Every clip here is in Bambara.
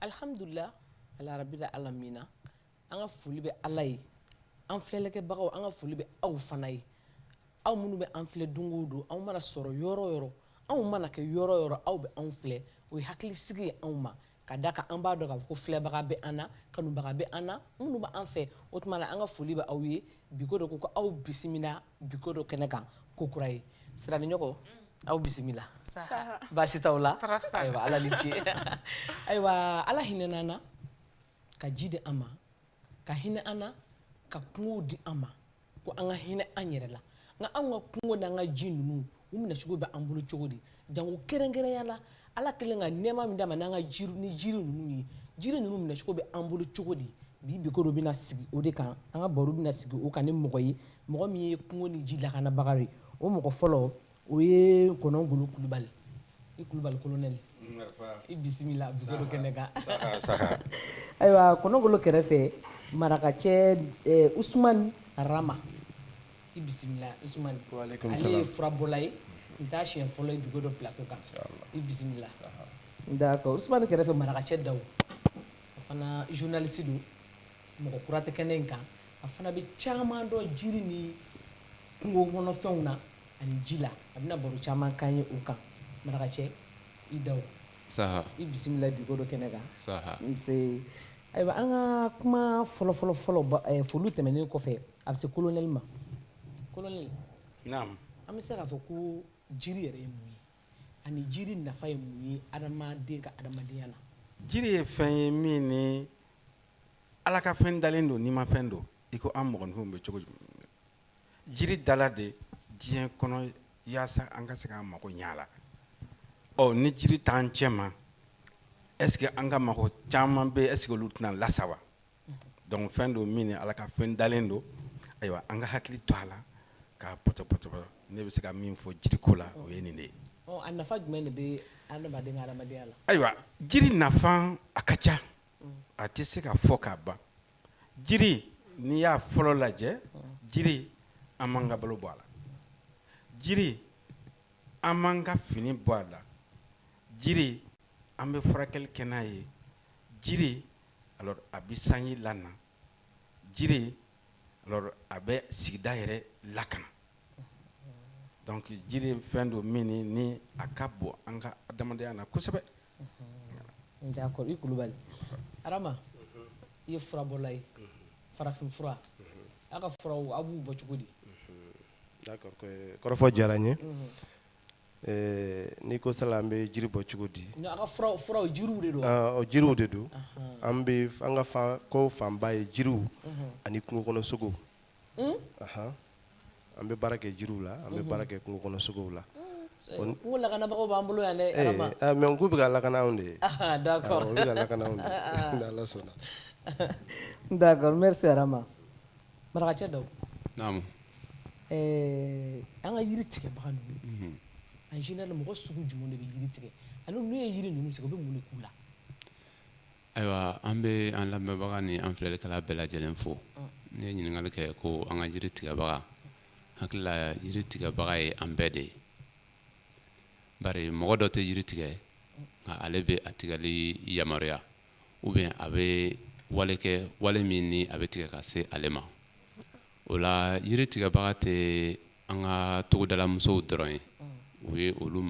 Alihamdulila arabili alamina an ka foli bɛ ala ye an filɛlikɛbagaw an ka foli bɛ aw fana ye aw minnu bɛ an filɛ don o don anw mana sɔrɔ yɔrɔ yɔrɔ anw mana kɛ yɔrɔ yɔrɔ aw bɛ anw filɛ o ye hakili sigi ye anw ma ka d'a kan an b'a dɔn k'a fɔ ko filɛbaga bɛ an na kanubaga bɛ an na minnu b'an fɛ o tuma na an ka foli bɛ aw ye biko dɔ ko kura aw bisimila biko dɔ kɛnɛ kan ko kura ye siraniɲɔgɔn aw bisimila baasi t'aw la ayiwa ala ni ce ayiwa ala hinɛna an na ka ji di an ma ka hinɛ an na ka kungo di an ma ko an ka hinɛ an yɛrɛ la nka anw ka kungo n'an ka ji ninnu u minɛcogo bɛ an bolo cogo di jango kɛrɛnkɛrɛnya la ala kɛlen ka nɛɛma min d'an ma n'an ka jiri ni jiri ninnu ye jiri ninnu minɛcogo bɛ an bolo cogo di bi biko dɔ bɛna sigi o de kan an ka baro bɛna sigi o kan ni mɔgɔ ye mɔgɔ min ye kungo ni ji lakanabaga ye o mɔgɔ fɔlɔ O ye kɔnɔgolo kulubali i kulubali kolonɛli i bisimila biko dɔ kɛnɛ kan ayiwa kɔnɔgolo kɛrɛfɛ marakacɛ usumani arama i bisimila usumani ale ye furabɔla ye nin t'a siɲɛ fɔlɔ ye biko dɔ plateau kan i bisimila d'accord usumani kɛrɛfɛ marakacɛ dawu a fana journaliste don mɔgɔ kura tɛ kɛnɛ in kan a fana bɛ caman dɔn jiri ni kungo kɔnɔfɛnw na ani ji la a bɛna baro caman k'an ye o kan marakacɛ i dawu saha i bisimila biko dɔ kɛnɛ kan saha ayiwa an ka kuma fɔlɔfɔlɔ fɔlɔ eh, foli tɛmɛnen kɔfɛ a bɛ se kolonɛli ma kolonɛli an bɛ se k'a fɔ ko jiri yɛrɛ ye mun ye ani jiri nafa ye mun ye adamaden ka adamadenya la jiri ye fɛn ye min ni Ala ka fɛn dalen don nimafɛn don i ko an mɔgɔninfin bɛ cogo jiri dala de diɲɛ kɔnɔ walasa an ka se k'an mago ɲɛ a la ɔ ni jiri t'an cɛma est-ce que an ka mago caman bɛ e olu tɛna lasa wa donc fɛn don min ni ala ka fɛn dalen don ayiwa an ka hakili to a la k'a topoto ne bɛ se ka min fɔ jiriko la o ye nin de ye a nafa jumɛn de bɛ adamaden ka adamadenya la ayiwa jiri nafa a ka ca a tɛ se ka fɔ k'a ban jiri n'i y'a fɔlɔ lajɛ jiri an m'an ka balo bɔ a la jiri an m'an ka fini bɔ a la jiri an bɛ furakɛli kɛ n'a ye jiri alors a bɛ sanji la jiri alors a bɛ sigida yɛrɛ lakana donc jiri ye fɛn don min ni a ka bon an ka adamadenya na kosɛbɛ d'accord i kulubali arama i ye furabɔla ye farafin fura aw ka furaw aw b'u bɔ cogo di d'accord kɔrɔfɔ diyara n ye N'i ko sala an bɛ jiri bɔ cogo di jiriw de don an bɛ an ka fan ko fanba ye jiriw ani kungo kɔnɔ sogow anhan an bɛ baara kɛ jiriw la an bɛ baara kɛ kungo kɔnɔ sogow la kungo lakanabagaw b'an bolo yan mais n ko u bɛ ka lakana anw de ye ala sɔnna d'accord merci arama marakacɛ dawu an ka yiri tigɛbaga ninnu en général mɔgɔ sugu jumɛn de bɛ jiri tigɛ ani n'u ye yiri ninnu tigɛ u bɛ mun de k'u la ayiwa an bɛ an lamɛnbaga ni an filɛlikɛla bɛɛ lajɛlen fo ne ye ɲininkali kɛ ko an ka jiri tigɛbaga hakili la jiri tigɛbaga ye an bɛɛ de ye bari mɔgɔ dɔ tɛ jiri tigɛ nka ale bɛ a tigɛli yamaruya ou bien a bɛ wale kɛ wale min ni a bɛ tigɛ ka se ale ma o la yiri tigɛbaga tɛ an ka togodalamusow dɔrɔn ye o ye olu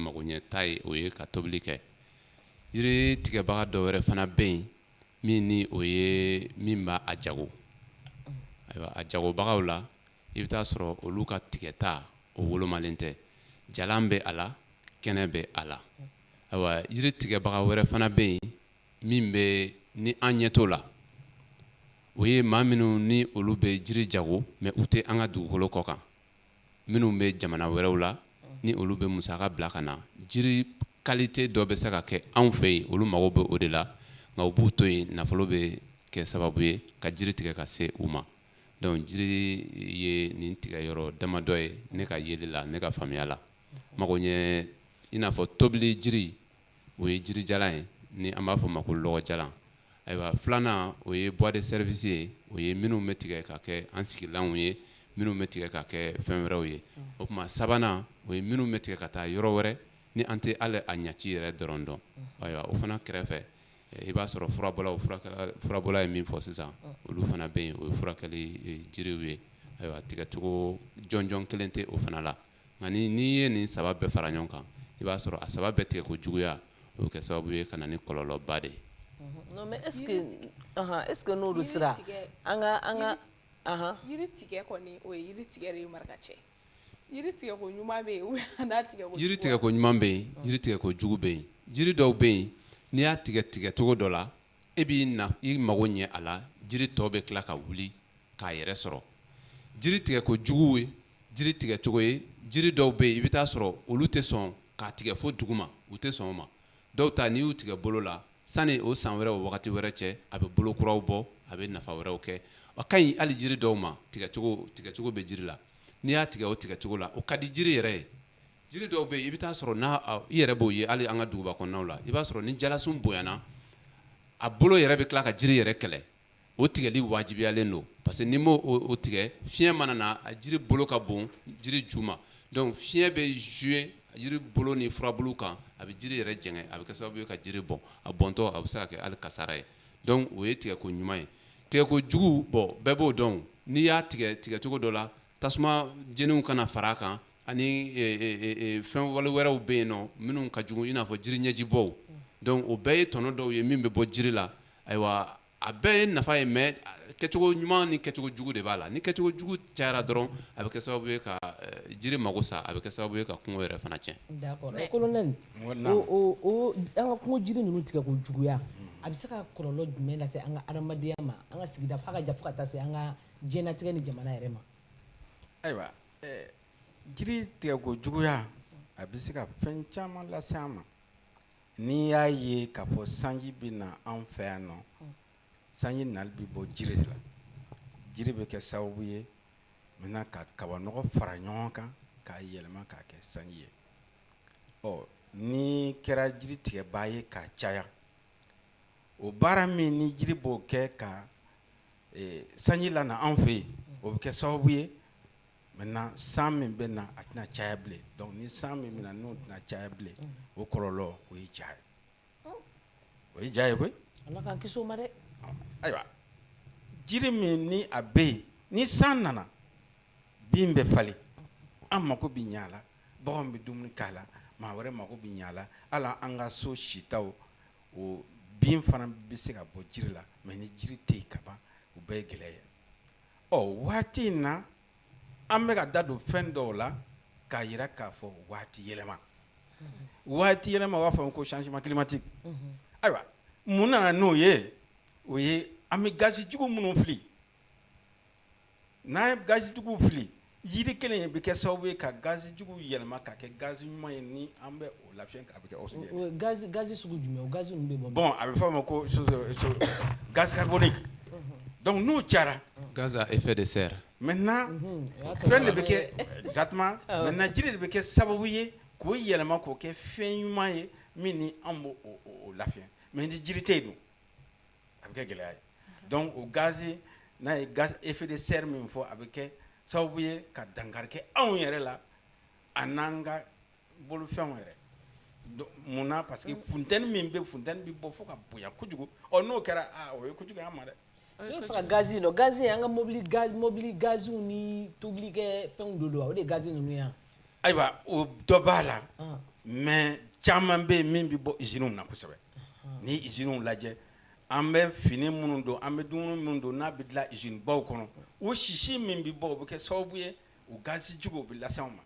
magoɲɛta ye o ye ka tobili kɛ yiri tigɛbaga dɔ wɛrɛ fana bɛ yen min ni o ye min b'a jago ayiwa a jagobagaw la i bɛ t'a sɔrɔ olu ka tigɛta o wolomalen tɛ jalan bɛ a la kɛnɛ bɛ a la ayiwa yiri tigɛbaga wɛrɛ fana bɛ yen min bɛ ni an ɲɛ t'o la o ye maa minnu ni olu bɛ jiri jago mais u tɛ an ka dugukolo kɔ kan minnu bɛ jamana wɛrɛw la ni olu bɛ musaka bila ka na jiri qualité dɔ bɛ se ka kɛ anw fɛ yen olu mago bɛ o de la nka u b'u to yen nafolo bɛ kɛ sababu ye ka jiri tigɛ ka se u ma Donc jiri ye nin tigɛ yɔrɔ damadɔ ye ne ka yeli la ne ka faamuya la mago ɲɛ i n'a fɔ tobili jiri o ye jirijalan ye ni an b'a fɔ ma ko lɔgɔjalan ayiwa filanan o ye bois de service ye o ye minnu bɛ tigɛ ka kɛ an sigilanw ye minnu bɛ tigɛ ka kɛ fɛn wɛrɛw ye o tuma sabanan o ye minnu bɛ tigɛ ka taa yɔrɔ wɛrɛ ni an tɛ hali a ɲɛci yɛrɛ dɔrɔn dɔn ayiwa o fana kɛrɛfɛ I b'a sɔrɔ furabɔla ye min fɔ sisan olu fana bɛ yen o ye furakɛli jiriw ye ayiwa tigɛcogo jɔnjɔn kelen tɛ o fana la nka n'i ye nin saba bɛɛ fara ɲɔgɔn kan i b'a sɔrɔ a saba bɛɛ tigɛ ko juguya o kɛ sababu ye ka na ni kɔlɔlɔba de ye est-ce que n'olu sera an tigɛ o tigɛ marakacɛ Jiri tigɛ ko ɲuman bɛ yen jiri tigɛ ko ɲuman bɛ yen jiri tigɛ ko jugu bɛ yen jiri dɔw bɛ yen n'i y'a tigɛ tigɛ cogo dɔ la e b'i mago ɲɛ a la jiri tɔ bɛ tila ka wuli k'a yɛrɛ sɔrɔ jiri tigɛ ko jugu ye jiri tigɛ cogo ye jiri dɔw bɛ yen i bɛ taa sɔrɔ olu tɛ sɔn ka tigɛ fo duguma u tɛ sɔn ma dɔw ta n'i y'u tigɛ bolo la Sani o san wɛrɛ o wagati wɛrɛ cɛ a bɛ bolo kuraw bɔ a bɛ nafa wɛrɛw kɛ a ka ɲi hali jiri dɔw ma tigɛ tigɛcogo bɛ jiri la n'i y'a tigɛ o tigɛcogo la o ka di jiri yɛrɛ ye jiri dɔw bɛ yen i bɛ taa sɔrɔ n' i yɛrɛ b'o ye hali an ka duguba kɔnɔnaw la i b'a sɔrɔ ni jalasun bonyana a bolo yɛrɛ bɛ tila ka jiri yɛrɛ kɛlɛ o tigɛli wajibiyalen don parce que n'i m'o tigɛ fiɲɛ mana na a jiri bolo ka bon jiri ju ma donc fiɲɛ bɛ jouer jiri bolo ni furabulu kan a bɛ jiri yɛrɛ jɛngɛ a bɛ kɛ sababu ye ka jiri bɔn a bɔntɔ a bɛ se ka kɛ hali kasara ye donc o ye tigɛko ɲuman ye tigɛko jugu bon bɛɛ b'o dɔn n'i y'a tigɛ tigɛcogo dɔ la tasuma jeniw kana fara a kan ani e, e, e, fɛn wale wɛrɛw bɛ yen nɔ minnu ka jugu i n'a fɔ jiri ɲɛjibɔw donc o bɛɛ ye tɔnɔ dɔw ye min bɛ bɔ jiri la ayiwa a bɛɛ ye nafa ye mais kɛcogo ɲuman ni kɛcogo jugu de b'a la ni kɛcogo jugu cayara dɔrɔn a bɛ kɛ sababu ye ka jiri mago sa a bɛ kɛ sababu ye ka kungo yɛrɛ fana tiɲɛ. d'accord colonel o o an ka kungo jiri ninnu tigɛ ko juguya a bɛ se ka kɔlɔlɔ jumɛn lase an ka adamadenya ma an ka sigida fo a ka jan fo ka taa se an ka Diɲɛlatigɛ ni jamana yɛrɛ ma. Ayiwa ɛɛ jiri tigɛ ko juguya a bɛ se ka fɛn caman lase an ma. N'i y'a ye k'a fɔ sanji bɛ na anw fɛ yan nɔ, sanji nali bɛ bɔ jiri de la. Jiri bɛ kɛ sababu ye maintenant ka kabanɔgɔ fara ɲɔgɔn kan k'a yɛlɛma k'a kɛ sanji ye. Ɔ n'i kɛra jiri tigɛbaa ye k'a caya o baara min ni jiri b'o kɛ ka sanji lana an fɛ yen o bɛ kɛ sababu ye maintenant san min bɛ na a tɛna caya bilen donc ni san min bɛ na n'o tɛna caya bilen o kɔlɔlɔ o ye ja ye o ye ja ye koyi ayiwa jiri min ni a bɛ yen ni san nana bin bɛ falen an mako bɛ ɲa a la bagan bɛ dumuni k'a la maa wɛrɛ mako bɛ ɲa a la hali an ka so sitaw o bin fana bɛ se ka bɔ jiri la mais ni jiri tɛ yen ka ban o bɛɛ ye gɛlɛya ye ɔ waati in na an bɛ ka da don fɛn dɔw la k'a jira k'a fɔ waati yɛlɛma waati yɛlɛma u b'a fɔ ko changement climatique ayiwa mun nana n'o ye o ye an bɛ gazi jugu minnu fili N'a ye gazi jugu fili jiri kelen in bɛ kɛ sababu ye ka gazi jugu yɛlɛma ka kɛ gazi ɲuman ye ni an bɛ o lafiyɛ a bɛ kɛ oxygène gazi sugu jumɛn gazi bɛ bɔ bon a bɛ f'a ma ko gaz carbonique donc n'u cayara gaz à effet de serre maintenant fɛn de bɛ kɛ exactement maintenant jiri de bɛ kɛ sababu ye k'o yɛlɛma k'o kɛ fɛn ɲuman ye min ni an b'o lafiyɛ mais ni jiri tɛ yen dun a bɛ kɛ gɛlɛya ye donc o gazi n'a ye gaz effet de serre min fɔ a bɛ kɛ sababu ye ka dankari kɛ anw yɛrɛ la a n'an ka bolofɛnw yɛrɛ munna parce que funteni min bɛ funteni bɛ bɔ fo ka bonya kojugu ɔ n'o kɛra o ye kojugu ye an ma dɛ ka gazi n'o gazi an ka mɔbili mɔbili gaziw ni tobilikɛ fɛnw de don o de gazi ninnu ye ayiwa o dɔ b'a la mais caman bɛ yen min bɛ bɔ usines na kosɛbɛ ni usines lajɛ an bɛ fini minnu don an bɛ dumuni minnu don n'a bɛ dilan usine baw kɔnɔ o sisi min bɛ bɔ o bɛ kɛ sababu ye u gazi juguw bɛ lase an ma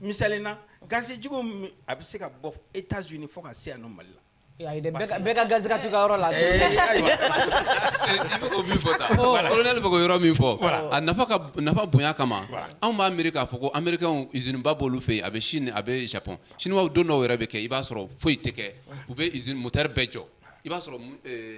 misali na gazi jugu a bɛ se ka bɔ États-Unis fo ka se yan nɔ Mali la Ka gazi ka to i ka yɔrɔ la colonel bɛ ka yɔrɔ min fɔ a nafa bonya kama anw b'a miiri k'a fɔ ko américains usine ba b'olu fɛ yen a bɛ Chine a bɛ Japon chinois don dɔw yɛrɛ bɛ kɛ i b'a sɔrɔ foyi tɛ kɛ u bɛ usine moteur bɛɛ jɔ i b'a sɔrɔ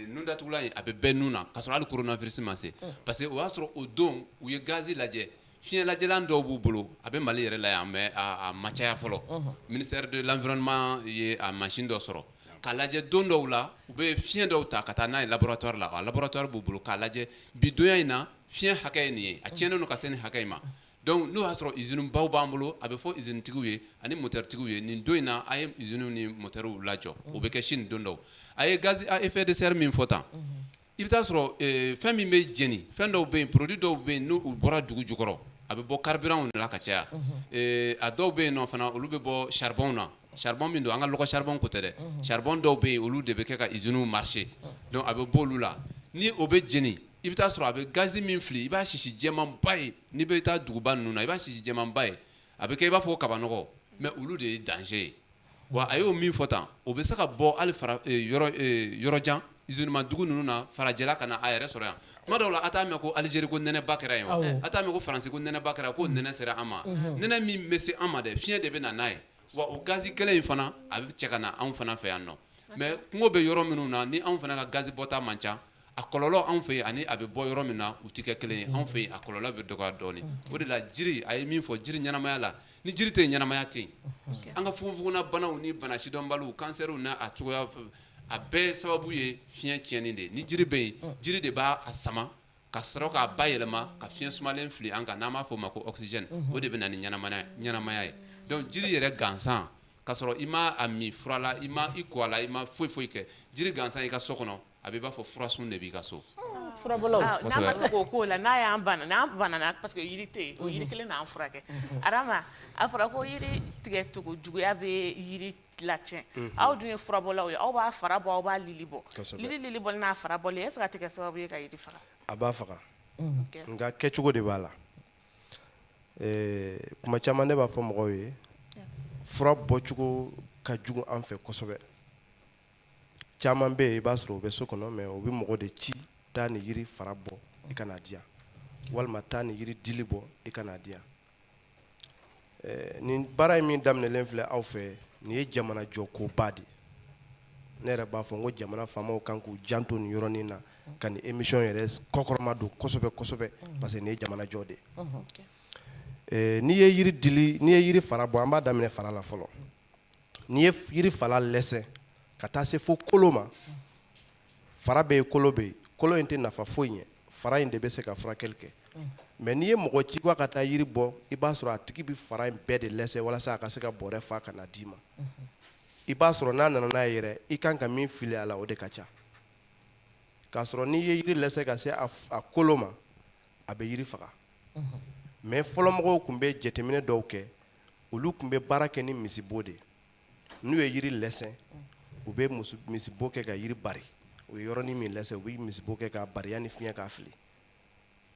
nun datugulan in a bɛ bɛɛ nun na k'a sɔrɔ hali coronavirus ma se parce que o y'a sɔrɔ o don u ye gazi lajɛ Fiɲɛlajɛlan dɔw b'u bolo a bɛ Mali yɛrɛ la yan mais a ma caya fɔlɔ, unhun, ministère de l'environnement ye a machine dɔ sɔrɔ k'a lajɛ don dɔw la u bɛ fiɲɛ dɔw ta ka taa n'a ye laboratoire la, a laboratoire b'u bolo k'a lajɛ bi donya in na fiɲɛ hakɛ ye nin ye a cɛnnen don ka se nin hakɛ in ma donc n'o y'a sɔrɔ usines baw b'an bolo a bɛ fɔ usine tigiw ye ani moteur tigiw ye nin don in na a ye usines ni moteurw lajɔ o bɛ kɛ Chine don dɔw a ye gaz à effet de serre min fɔ tan I bɛ t'a sɔrɔ fɛn min bɛ jeni fɛn dɔw bɛ yen produit dɔw bɛ yen n'u bɔra dugu jukɔrɔ a bɛ bɔ carburantw de la ka caya a dɔw bɛ yen nɔ fana olu bɛ bɔ charbonw na charbon min don an ka lɔgɔ charbon ko tɛ dɛ charbon dɔw bɛ yen olu de bɛ kɛ ka usines marcher donc a bɛ bɔ olu la ni o bɛ jeni i bɛ t'a sɔrɔ a bɛ gazi min fili i b'a sisi jɛmanba ye n'i bɛ taa duguba ninnu na i b'a sisi jɛmanba ye a bɛ kɛ i b'a fɔ kabanɔgɔ mais olu de ye danger ye wa a y'o min fɔ tan o bɛ se ka bɔ hali yɔrɔ jan usinema dugu ninnu na farajɛla ka na a yɛrɛ sɔrɔ yan tuma dɔw la a t'a mɛn ko Algérie ko nɛnɛ ba kɛra yen wa a t'a mɛn ko Faransi ko nɛnɛ ba kɛra ko nɛnɛ sera an ma nɛnɛ min bɛ se an ma dɛ fiɲɛ de bɛ na n'a ye wa o gazi kelen in fana a bɛ cɛ ka na anw fana fɛ yan nɔ mais kungo bɛ yɔrɔ minnu na ni anw fana ka gazi bɔta man ca a kɔlɔlɔ anw fɛ yen ani a bɛ bɔ yɔrɔ min na u tɛ kɛ kelen ye anw fɛ yen a kɔlɔlɔ bɛ dɔgɔya dɔɔnin o de la jiri a ye min fɔ jiri ɲɛnamaya la ni jiri tɛ yen ɲɛnamaya tɛ yen an ka fogonfogonna banaw ni bana sidɔnbaliw kansɛriw n'a cogoya a bɛɛ sababu ye fiɲɛ tiɲɛni de ni jiri bɛ yen jiri de b'a sama ka sɔrɔ k'a bayɛlɛma ka fiɲɛ sumalen fili an kan n'an b'a fɔ o ma ko oxygène o de bɛ na ni ɲɛnamaya ye donc jiri yɛrɛ gansan ka sɔrɔ i ma a min fura la i ma i ko a la i ma foyi foyi kɛ jiri gansan i ka so kɔnɔ a bɛ i b'a fɔ furasun de b'i ka so la n'a bana parce que kelen furakɛ a fɔra ko yiri tigɛ cogo juguya bɛ yiri latiɲɛ aw dun ye furabɔlaw ye aw b'a fara bɔ aw b'a lili bɔ lili bɔli n'a fara bɔli est-ce que a tɛ kɛ sababu ye ka yiri faga a b'a faga nka kɛ cogo de b'a la kuma caman ne b'a fɔ mɔgɔw ye fura bɔcogo ka jugu an fɛ kosɛbɛ caman bɛ yen i b'a sɔrɔ o bɛ so kɔnɔ mais o bɛ mɔgɔ de ci taa ni yiri fara bɔ i ka n'a di yan walima taa ni yiri dili bɔ i ka n'a di yan nin baara in min daminɛlen filɛ aw fɛ nin ye jamana jɔ koba de ne yɛrɛ b'a fɔ n ko jamana faamaw kan k'u janto nin yɔrɔnin na ka nin émission yɛrɛ kɔkɔrɔma don kosɛbɛ kosɛbɛ parce que nin ye jamana jɔ de n'i ye yiri dili n'i ye yiri fara bɔ an b'a daminɛ fara la fɔlɔ n'i ye yiri fara lɛsɛ ka taa se fo kolo ma fara bɛ yen kolo bɛ yen kolo in tɛ nafa foyi ɲɛ fara in de bɛ se ka furakɛli kɛ mais n'i ye mɔgɔ ci ka taa yiri bɔ i b'a sɔrɔ a tigi bɛ fara in bɛɛ de lɛsɛ walasa a ka se ka bɔrɛ fa ka na d'i ma i b'a sɔrɔ n'a nana n'a ye yɛrɛ i kan ka min fili a la o de ka ca k'a sɔrɔ n'i ye yiri lɛsɛ ka se a kolo ma a bɛ yiri faga mais fɔlɔmɔgɔw tun bɛ jateminɛ dɔw kɛ olu tun bɛ baara kɛ ni misibo de n'u ye yiri lɛsɛ u bɛ misibo kɛ ka yiri bari u ye yɔrɔnin min lɛsɛ u bɛ misibo kɛ k'a bari yanni fiɲɛ k'a fili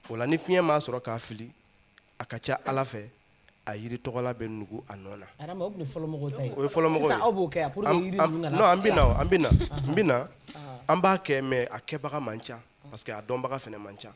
o la ni fiɲɛ m'a sɔrɔ k'a fili a ka ca ala fɛ a yiri tɔgɔla bɛ nugu a nɔ na an bɛ na an b'a kɛ mais a kɛbaga man ca parce que a dɔnbaga fana man ca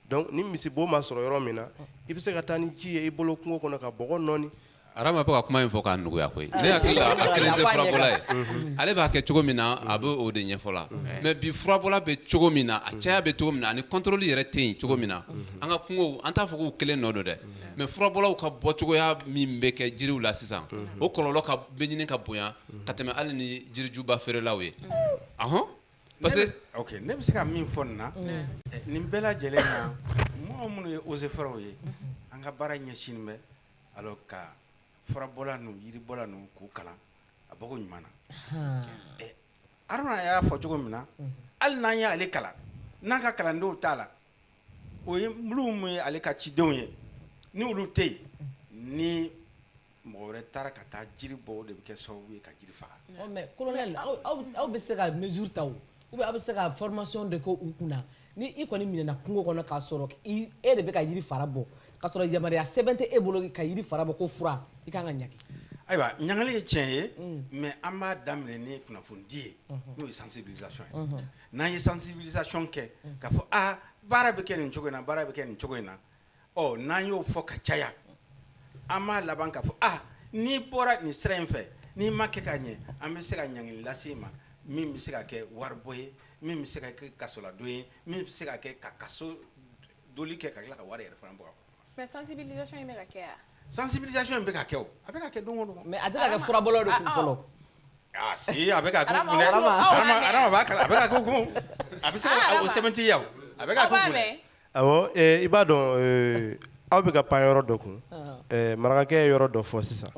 Donc ni misibo ma sɔrɔ yɔrɔ min na i bɛ se ka taa ni ji ye i bolo kungo kɔnɔ ka bɔgɔ nɔɔni. Arama bɛ ka kuma in fɔ k'a nɔgɔya koyi ne hakili la a kelen tɛ furabɔla ye ale b'a kɛ cogo min na a bɛ o de ɲɛfɔ la mais bi furabɔla bɛ cogo min na a caya bɛ cogo min na ani contrôle yɛrɛ tɛ yen cogo min na an ka kungow an t'a fɔ k'u kelen nɔ don dɛ mais furabɔlaw ka bɔcogoya min bɛ kɛ jiriw la sisan o kɔlɔlɔ ka bɛ ɲini ka bonya ka tɛmɛ hali ni jirijuba feerelaw ye ahɔn Parce que ok ne bɛ se ka min fɔ nin na nin bɛɛ lajɛlen na mɔgɔ minnu ye eaux et forêts ye an ka baara ɲɛsinnen bɛ alors ka furabɔla ninnu yiribɔla ninnu k'u kalan a bɔko ɲuman na haruna y'a fɔ cogo min na hali n'an y'ale kalan n'an ka kalandenw t'a la o ye minnu ye ale ka cidenw ye ni olu tɛ yen ni mɔgɔ wɛrɛ taara ka taa jiri bɔ o de bɛ kɛ sababu ye ka jiri faga colonel aw bɛ se ka mesure ta ou bien aw bɛ se ka formation de kɛ u kunna ni i kɔni minɛna kungo kɔnɔ k'a sɔrɔ e de bɛ ka jiri fara bɔ k'a sɔrɔ yamaruya sɛbɛn tɛ e bolo ka jiri fara bɔ ko fura i ka kan ka ɲangi ayiwa ɲangili ye tiɲɛ ye mais an b'a daminɛ ni kunnafonidi ye n'o ye sensibilisation ye n'an ye sensibilisation kɛ k'a fɔ aa baara bɛ kɛ nin cogo in na baara bɛ kɛ nin cogo in na ɔ n'an y'o fɔ ka caya an b'a laban k'a fɔ aa n'i bɔra nin sira in fɛ n'i m'a kɛ ka ɲɛ an bɛ se ka ɲangili lase i ma min bɛ se ka kɛ waribɔ ye min bɛ se ka kɛ kasoladon ye min bɛ se ka kɛ ka kaso doli kɛ ka tila ka wari yɛrɛ fana bɔ Mais sensibilisation in bɛ ka kɛ sensibilisation in bɛ ka kɛ a bɛ ka kɛ don o don mais a tɛ ka kɛ furabɔlaw de kun fɔlɔ si a bɛ a a bɛ se ka o sɛbɛntiya a bɛ awɔ i b'a dɔn aw bɛ ka pan yɔrɔ dɔ kun marakakɛ yɔrɔ dɔ fɔ sisan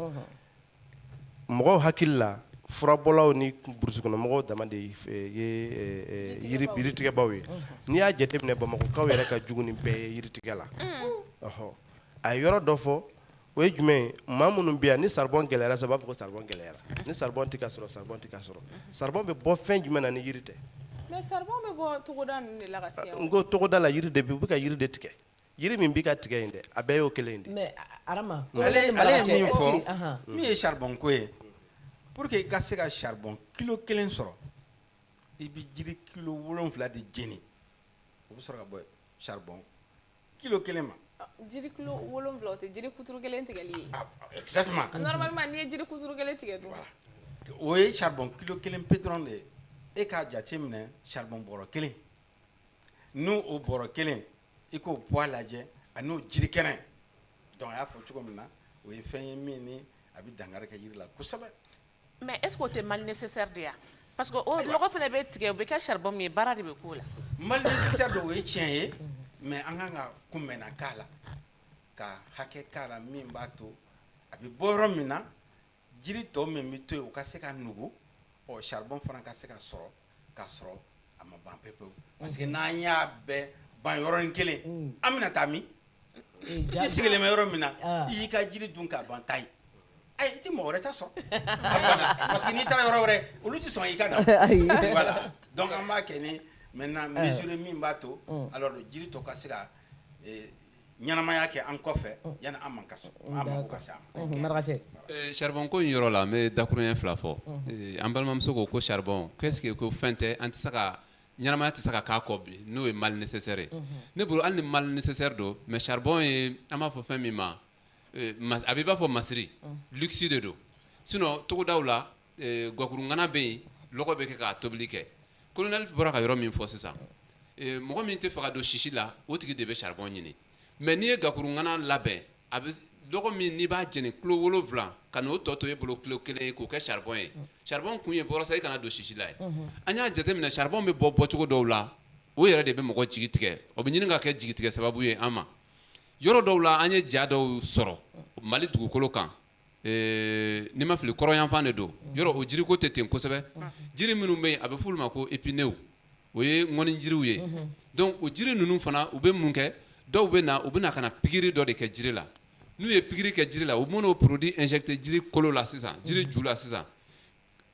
mɔgɔw hakili la furabɔlaw ni burusikɔnɔmɔgɔw dama de ye yiritigɛbaw ye n'i y'a jate minɛ bamakɔkaw yɛrɛ ka jugu ni bɛɛ ye yiritigɛ la ɔɔ a ye yɔrɔ dɔ fɔ o ye jumɛn ye maa minnu bɛ yan ni saribɔn gɛlɛyara sa u b'a fɔ ko saribɔn gɛlɛyara ni saribɔn tɛ ka sɔrɔ saribɔn tɛ ka sɔrɔ saribɔn bɛ bɔ fɛn jumɛn na ni yiri tɛ togoda la yiri de u bɛ ka yiri de tigɛ Jiri min bɛ ka tigɛ in dɛ a bɛɛ y'o kelen de ale ye min fɔ min ye saribɔnko ye pour que i ka se ka saribɔn kilo kelen sɔrɔ i bɛ jiri kilo wolonwula de jeni o bɛ sɔrɔ ka bɔ saribɔn kilo kelen ma jiri kilo wolonwula o tɛ jiri kuturu kelen tigɛli ye n'i ye jiri kuturu kelen tigɛ o ye saribɔn kilo kelen pe dɔrɔn de ye e k'a jate minɛ saribɔn bɔrɔ kelen n'o bɔrɔ kelen i k'o poids lajɛ a n'o jiri kɛnɛ donc a y'a fɔ cogo min na o ye fɛn ye min ni a bɛ dankari kɛ jiri la kosɛbɛ mais est-ce que o tɛ mal nécessaire de ye wa parce que o lɔgɔ fana bɛ tigɛ o bɛ kɛ saribɔn min ye baara de bɛ k'o la mal nécessaire don o ye tiɲɛ ye mais an kan ka kunbɛnna k'a la ka hakɛ k'a la min b'a to a bɛ bɔ yɔrɔ min na jiri tɔ min bɛ to yen u ka se ka nugu ɔ charbon fana ka se ka sɔrɔ ka sɔrɔ a ma ban pewu pewu parce que n'an y'a bɛɛ ban yɔrɔnin kelen mm. an bɛna taa min i sigilen bɛ yɔrɔ min na ah. i y'i ka jiri dun k'a ban ta ye ayi eh, i tɛ mɔgɔ wɛrɛ ta sɔrɔ parce que n'i taara yɔrɔ wɛrɛ olu tɛ sɔn i ka na voilà donc an b'a kɛ ni maintenant eh. mesure min b'a to mm. alors jiri tɔ ka se ka eh, ɲɛnamaya kɛ an kɔfɛ yanni an man ka se charbon ko in yɔrɔ la an bɛ dakurunɲɛ fila fɔ an balimamuso ko ko charbon qu'est-ce que ko fɛn tɛ an tɛ se ka ɲɛnamaya tɛ se ka k'a kɔ bi n'o ye mal nécessaire ye ne bolo hali ni mal nécessaire don mais charbon ye an b'a fɔ fɛn min ma a b'i b'a fɔ masiri luxe de don sinon togodaw la Gakurungana bɛ yen lɔgɔ bɛ kɛ ka tobili kɛ colonel bɔra ka yɔrɔ min fɔ sisan mɔgɔ min tɛ fɛ ka don sisi la o tigi de bɛ charbon ɲini mais n'i ye gakurungana labɛn a bɛ lɔgɔ min n'i b'a jeni kilo wolonwula ka n'o tɔ to e bolo kilo kelen ye k'o kɛ charbon ye charbon kun ye walasa i kana don sisi la ye an y'a jateminɛ charbon bɛ bɔ bɔcogo dɔw la o yɛrɛ de bɛ mɔgɔ jigi tigɛ o bɛ ɲini ka kɛ jigi tigɛ sababu ye an ma yɔrɔ dɔw la an ye ja dɔw sɔrɔ Mali dugukolo kan Ee n'i ma fili kɔrɔnyanfan de don yɔrɔ o jiriko tɛ ten kosɛbɛ jiri minnu bɛ yen a bɛ f'olu ma ko épineux o ye ŋɔni jiriw ye donc o jiri ninnu fana u bɛ mun kɛ dɔw bɛ na u bɛ na ka na pikiri dɔ de kɛ jiri la n'u ye pikiri kɛ jiri la u bɛ n'o produit injecté jiri kolo la sisan jiri ju la sisan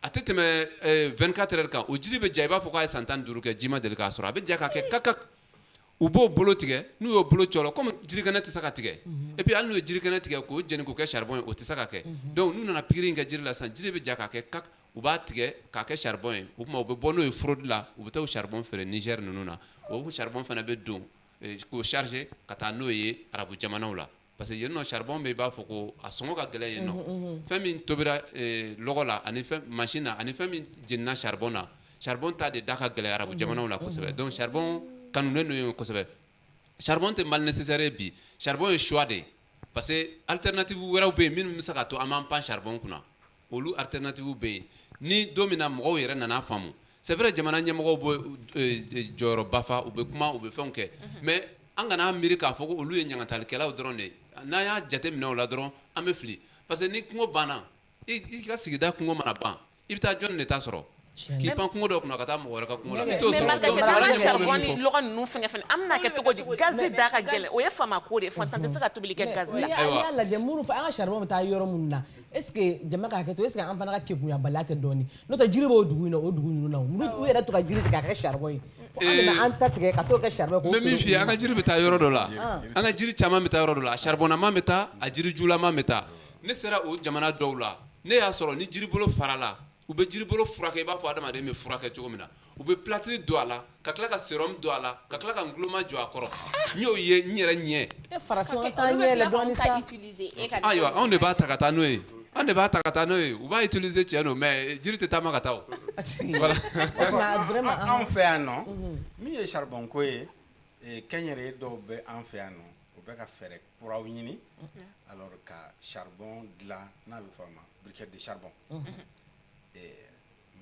a tɛ tɛmɛ 24 heures kan o jiri bɛ ja i b'a fɔ k'a ye san 15 kɛ ji ma deli k'a sɔrɔ a bɛ ja ka kɛ kakak u b'o bolo tigɛ n'u y'o bolo cɔrɔ comme jirikɛnɛ tɛ se ka tigɛ et puis hali n'u ye jirikɛnɛ tigɛ k'o jeni k'o kɛ charbon ye o tɛ se ka kɛ donc n'u nana pikiri in kɛ jiri la sisan jiri bɛ ja ka kɛ kak u b'a tigɛ k'a kɛ charbon ye o tuma u bɛ bɔ n'o ye fraude la u bɛ taa o charbon feere Niger ninnu na o charbon fana bɛ don k'o charger ka taa n'o ye arabu jamanaw la parce que yen nɔ charbon bɛ yen i b'a fɔ ko a sɔngɔ ka gɛlɛn yen nɔ, unhun unhun, fɛn min tobira lɔgɔ la ani machine na ani fɛn min jenina charbon na charbon ta de da ka gɛlɛn arabu jamanaw la kosɛbɛ donc charbon kanulen don yen kosɛbɛ charbon tɛ mal nécessaire ye bi charbon ye choix de ye parce que alternative wɛrɛw bɛ yen minnu bɛ se k'a to an b'an pan charbon kunna Olu alternative bɛ yen ni don min na mɔgɔw yɛrɛ nan'a faamu c'est vrai jamana ɲɛmɔgɔw bɛ jɔyɔrɔba fa u bɛ kuma u bɛ fɛnw kɛ mais an kan'a miiri k'a fɔ ko olu ye ɲangatalikɛlaw dɔrɔn de n'an y'a jateminɛ o la dɔrɔn an bɛ fili parce que ni kungo banna i ka sigida kungo mana ban i bɛ taa jɔn de ta sɔrɔ K'i pan kungo dɔ kunna ka taa mɔgɔ wɛrɛ ka kungo la, i t'o sɔrɔ, mais Marc an ka taa an ka charbon ni lɔgɔ ninnu fɛngɛ fana, an bɛna kɛ cogo di gaz da ka gɛlɛn, o ye faama ko de ye, faantan tɛ se ka tobili kɛ gaz la, ayiwa, n'i y'a lajɛ minnu an ka charbon bɛ taa yɔrɔ minnu na est ce que jama ka hakɛ to est ce que an fana ka kekunyabaliya tɛ dɔɔnin n'o tɛ jiri b'o dugu in na o dugu ninnu na u yɛrɛ bɛ to ka jiri tigɛ k'a kɛ charbon ye, ee, an bɛna an ta tigɛ ka t'o kɛ charbon ye, n bɛ min f'i ye an ka jiri bɛ taa yɔrɔ dɔ la, an ka jiri caman bɛ taa yɔrɔ dɔ la a charbonnama bɛ taa a jirijulama bɛ taa ne sera o jamana dɔw la ne y'a sɔrɔ ni jiribolo farala u bɛ jiribolo furakɛ i b'a fɔ adamaden bɛ furakɛ cogo min na u bɛ plâtre don a la ka tila ka sérum don a la ka tila ka nguloma jɔ a kɔrɔ n y'o ye n yɛrɛ ɲɛ ayiwa anw de b'a ta ka taa n'o ye an de b'a ta ka taa n'o ye u b'a utiliser tiɲɛ don mais jiri tɛ taama ka taa anw fɛ yan nɔ min ye charbon ko ye kɛnyɛrɛye dɔw bɛ an fɛ yan nɔ u bɛ ka fɛɛrɛ kuraw ɲini alors ka charbon dilan n'a bɛ fɔ a ma briquette de charbon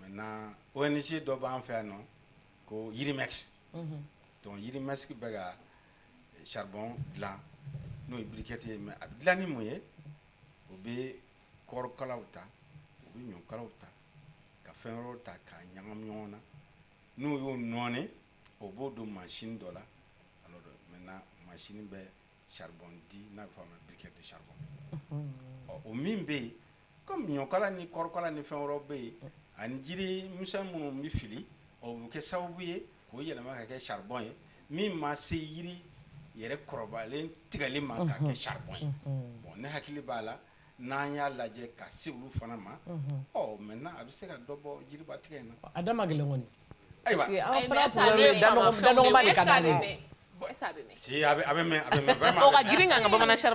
maintenant ONG dɔ b'an fɛ yan nɔ ko Yirimex donc Yirimex bɛ ka charbon dilan n'o ye briquette ye mais a bɛ dilan ni mun ye u bɛ kɔɔrikalaw ta u bɛ ɲɔkalaw ta ka fɛn wɛrɛw ta k'a ɲagami ɲɔgɔn na n'u y'o nɔɔni o b'o don mansin dɔ la alors maintenant mansin bɛ charbon di n'a bɛ fɔ a ma briquette de charbon o min bɛ yen comme ɲɔkala ni kɔɔrikala ni fɛn wɛrɛw bɛ yen ani jiri misɛn minnu bɛ fili o bɛ kɛ sababu ye k'o yɛlɛma ka kɛ charbon ye min ma se yiri yɛrɛ kɔrɔbalen tigɛli ma k'a kɛ charbon ye bon ne hakili b'a la n'an y'a lajɛ ka se olu fana ma mɛ n' a bɛ se ka dɔ bɔ jiriba tigɛ in a da gɛlɛn kɔni ayiwa a bɛ grin ka bamanan bɛ sa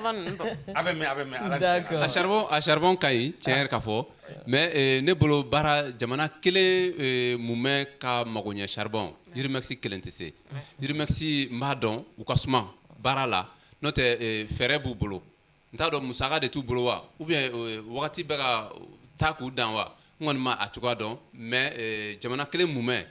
a sariro ka ɲi cɛ ka fɔ mɛ ne bolo baara jamana kelen mun bɛ ka mago ɲɛ sariro jirimasi kelen tɛ se jirimasi n b'a dɔn u ka suma baara la n'o tɛ fɛɛrɛ b'u bolo n t'a dɔn musaka de t'u bolo wa ou bien euh, wagati bɛ ka taa k'u dan wa n kɔni ma a cogoya dɔn mais euh, jamana kelen mumɛ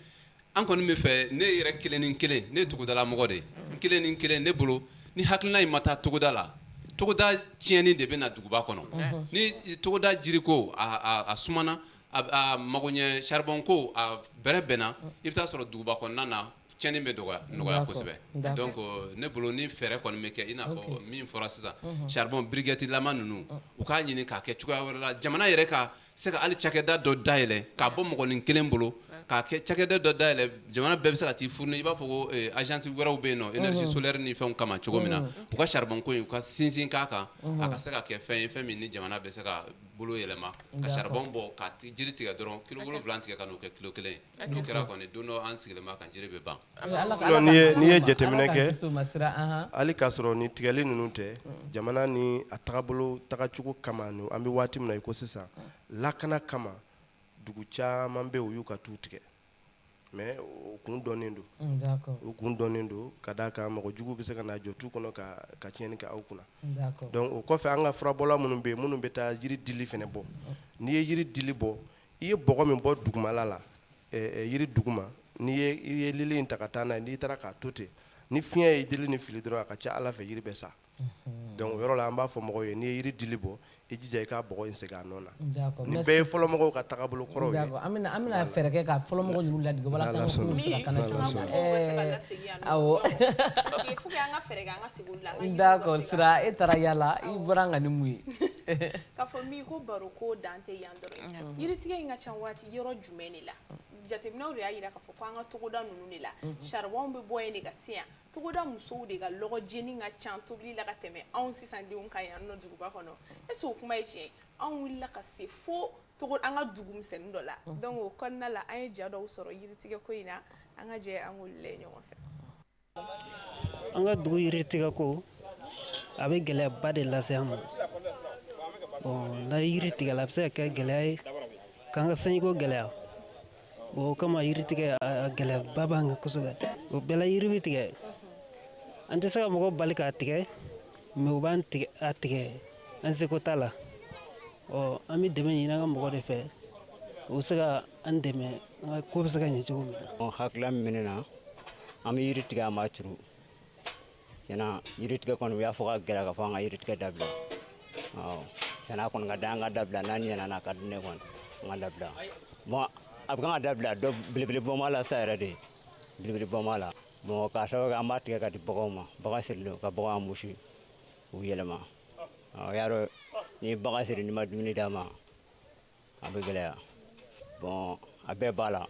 an kɔni bɛ min fɛ ne yɛrɛ kelen ni kelen ne ye togodala mɔgɔ de ye n kelen ni kelen ne bolo ni hakilina in ma taa togoda la togoda tiɲɛni de bɛ na duguba kɔnɔ ni togoda jiriko a, a, a sumana a, a magoɲɛ charbon ko a bɛrɛbɛnna i bɛ taa sɔrɔ duguba kɔnɔna na cɛnnin bɛ nɔgɔya D'accord kosɛbɛ d'accord donc ne bolo ni fɛɛrɛ kɔni bɛ kɛ i n'a fɔ min fɔra sisan charbon briquette lama ninnu u k'a ɲini k'a kɛ cogoya wɛrɛ la jamana yɛrɛ ka se ka hali cakɛda dɔ dayɛlɛ k'a bɔ mɔgɔnin kelen bolo k'a kɛ cakɛda dɔ dayɛlɛ jamana bɛɛ bɛ se ka t'i fourni i b'a fɔ ko ɛ agence wɛrɛw bɛ yen nɔ énergie solaire ni fɛnw kama cogo min na u ka charbon ko in u ka sinsin k'a kan a ka se ka kɛ fɛn ye fɛn min ni jamana bɛ se ka bolo yɛlɛma ka charbon bɔ ka jiri tigɛ dɔrɔn kilo wolonwula tigɛ ka n'o kɛ kilo kelen ye N'o kɛra kɔni don dɔ an sigilen b'a kan jiri bɛ ban, n'i ye jateminɛ kɛ hali k'a sɔrɔ nin tigɛli ninnu tɛ jamana ni a tagabolo tagacogo kama an bɛ waati min na i ko sisan lakana kama dugu caman bɛ yen u y'u ka tu tigɛ mais o kun dɔnnen don, un d'accord o kun dɔnnen don ka d'a kan mɔgɔ jugu bɛ se ka na jɔ tu kɔnɔ ka tiɲɛni kɛ aw kunna, un d'accord, donc o kɔfɛ an ka furabɔla minnu bɛ yen minnu bɛ taa yiri dili fɛnɛ bɔ n'i ye yiri dili bɔ i ye bɔgɔ min bɔ dugumala la yiri duguma n'i ye lili in ta ka taa n'a n'i taara k'a to ten ni fiɲɛ ye dili ni fili dɔrɔn a ka ca a la fɛ yiri bɛ sa donc o yɔrɔ la an b'a fɔ mɔgɔw ye n'i ye yiri dili bɔ i jija i k'a bɔgɔ in segin a nɔ na nin bɛɛ ye fɔlɔmɔgɔw ka tagabolo kɔrɔw ye an bɛna fɛɛrɛ kɛ ka fɔlɔmɔgɔ ninnu ladege walasa an ka kungo bɛ se ka kana awɔ d'accord Sira e taara yaala la i bɔra an kan ni mun ye yiritigɛ in ka ca waati yɔrɔ jumɛn de la jateminɛw de y'a jira k'a fɔ ko an ka togoda ninnu de la charbon bɛ bɔ yen de ka se yan togoda musow de ka lɔgɔ jeni ka ca tobili la ka tɛmɛ anw sisan denw kan yan nɔ duguba kɔnɔ est ce que o kuma ye tiɲɛ ye anw wulila ka se fo togo an ka dugu misɛnnin dɔ la donc o kɔnɔna la an ye ja dɔw sɔrɔ yiritigɛ ko in na an ka jɛ an k'olu lajɛ ɲɔgɔn fɛ an ka dugu yiritigɛ ko a bɛ gɛlɛyaba de lase an ma bon n'a yiri tigɛla a bɛ se ka kɛ gɛlɛya ye k'an ka sanjiko gɛlɛya bon o kama yiritigɛ a gɛlɛyaba b'an kan kosɛbɛ o bɛɛ la yiri bɛ tigɛ an tɛ se ka mɔgɔ bali k'a tigɛ mais u b'a tigɛ an seko t'a la Ɔ an bɛ dɛmɛ ɲini an ka mɔgɔ de fɛ u bɛ se ka an dɛmɛ an ka ko bɛ se ka ɲɛ cogo min na hakilila min bɛ ne na an bɛ yiri tigɛ an ma turu tiɲɛ na yiri tigɛ kɔni u y'a fɔ k'a gɛlɛya ka fɔ an ka yiri tigɛ dabila tiɲɛ na a kɔni ka da an ka dabila n'a ɲɛna na ka di ne kɔni an ka dabila bon a bɛ kan ka dabila dɔ belebele bɔnma la sa yɛrɛ de ye belebele bɔnma la bon k'a sababu kɛ an b'a tigɛ ka di baganw ma bagan sirilen ka baganw musi u yɛlɛma y'a dɔn ni bagan siri n'i ma dumuni d'a ma a bɛ gɛlɛya bon a bɛɛ b'a la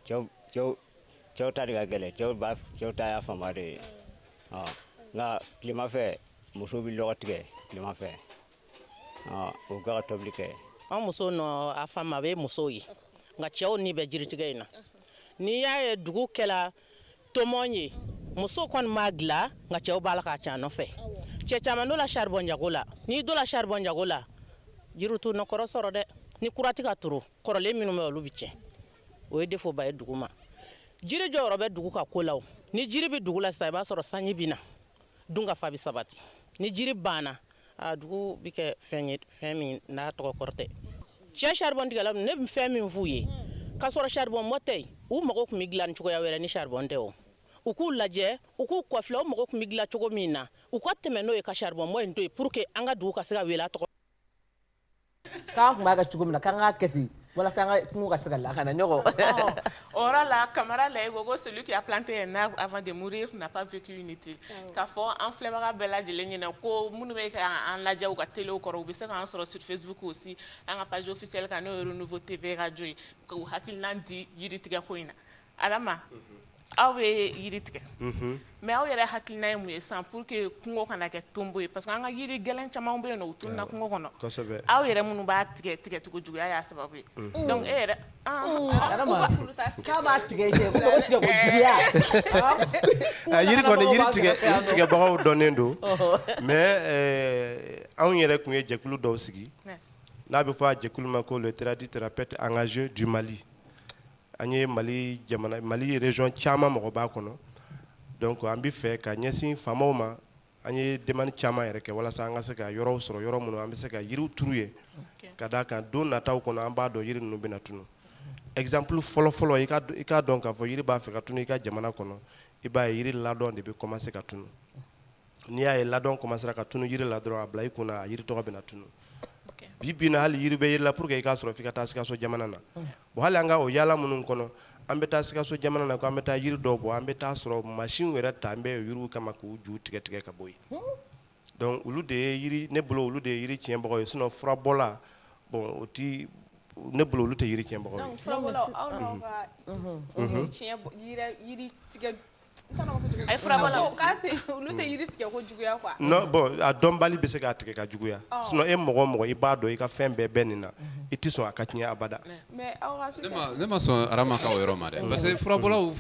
cɛw ta de ka gɛlɛn cɛw ta y'a fanba de ye nka tilema fɛ musow bɛ lɔgɔ tigɛ tilema fɛ u ka tobili kɛ an musow nɔ a fanba bɛ musow ye nka cɛw ni bɛ jiritigɛ in na n'i y'a ye dugu kɛra tomo ye muso kɔni b'a dilan nka cɛw b'a la k'a ca nɔfɛ cɛ caman donna saribɔn jago la n'i donna saribɔn jago la jiriw t'u nɔ kɔrɔ sɔrɔ dɛ ni kura tɛ ka turu kɔrɔlen minnu bɛ olu bɛ tiɲɛ o ye défaut ba ye dugu ma jiri jɔyɔrɔ bɛ dugu ka ko la ni jiri bɛ dugu la sisan i b'a sɔrɔ sanji bɛ na dunkafa bɛ sabati ni jiri banna A dugu bɛ kɛ fɛn ye fɛn min n'a tɔgɔ kɔrɔ tɛ cɛ saribɔntigɛla ne bɛ fɛn min f'u ye ka sɔrɔ saribɔn bɔ tɛ yen u mago tun bɛ dilan cogoya wɛrɛ ni saribɔn tɛ o u k'u lajɛ u k'u kɔfilɛ u mago tun bɛ dilan cogo min na u ka tɛmɛ n'o ye ka saribɔn bɔ in to yen pour que an ka dugu ka se ka wele a tɔgɔ K'an tun b'a kɛ cogo min na k'an k'a kɛ ten walasa an ka kungo ka se ka lakana. Ɔhɔn, o yɔrɔ la Camara Laye ko ko celui qui a planté un arbre avant de mourir n'a pas vécu inutile unhun, k'a fɔ an filɛbaga bɛɛ lajɛlen ɲɛna ko minnu bɛ k'an lajɛ u ka telew kɔrɔ u bɛ se k'an sɔrɔ sur Facebook aussi an ka page officielle kan n'o ye Renouveau TV radio ye k'u hakilinan di yiritigɛko in na aw bɛ yiri tigɛ mais aw yɛrɛ hakilina ye mun ye sisan pour que kungo kana kɛ tonbo ye parce que an ka yiri gɛlɛn caman bɛ yen u tununna kungo kɔnɔ aw yɛrɛ minnu b'a tigɛ tigɛcogo juguya y'a sababu ye e yɛrɛ tigɛbagaw dɔnnen don mais anw yɛrɛ tun ye jɛkulu dɔw sigi n'a bɛ fɔ a jɛkulu ma ko les tradithérapeutes engagés du Mali An ye Mali jamana Mali region caman mɔgɔ b'a kɔnɔ donc an bɛ fɛ ka ɲɛsin faamaw ma an ye demande caman yɛrɛ kɛ walasa an ka se ka yɔrɔw sɔrɔ yɔrɔ minnu an bɛ se ka yiriw turu yen ka d'a kan don nataw kɔnɔ an b'a dɔn yiri ninnu bɛna tunu exemple fɔlɔ-fɔlɔ i ka i k'a dɔn k'a fɔ yiri b'a fɛ ka tunu i ka jamana kɔnɔ i b'a ye yiri ladɔn de bɛ commencer ka tunu n'i y'a ye ladɔn commencera ka tunu yiri la dɔrɔn a bila i kun na a yiri tɔgɔ bɛna tunu bi bi in na hali yiri bɛ yiri la pour que i k'a sɔrɔ f'i ka taa Sikaso jamana na bon hali an ka o yaala minnu kɔnɔ an bɛ taa Sikaso jamana na ko an bɛ taa yiri dɔ bɔ an bɛ taa sɔrɔ machine yɛrɛ taalen bɛ yiriw kama k'u ju tigɛ tigɛ ka bɔ yen donc olu de ye yiri ne bolo olu de ye yiri tiɲɛbagaw ye sinon furabɔla bon o tɛ ne bolo olu tɛ yiri tiɲɛbagaw A ye furabɔlaw olu tɛ yiri tigɛ ko juguya non bon a dɔnbali bɛ se k'a tigɛ ka juguya sinon e mɔgɔ o mɔgɔ i b'a dɔn i ka fɛn bɛɛ bɛ nin na i tɛ sɔn a ka tiɲɛ abada ne ma sɔn Arama ka o yɔrɔ ma dɛ parce que furabɔlaw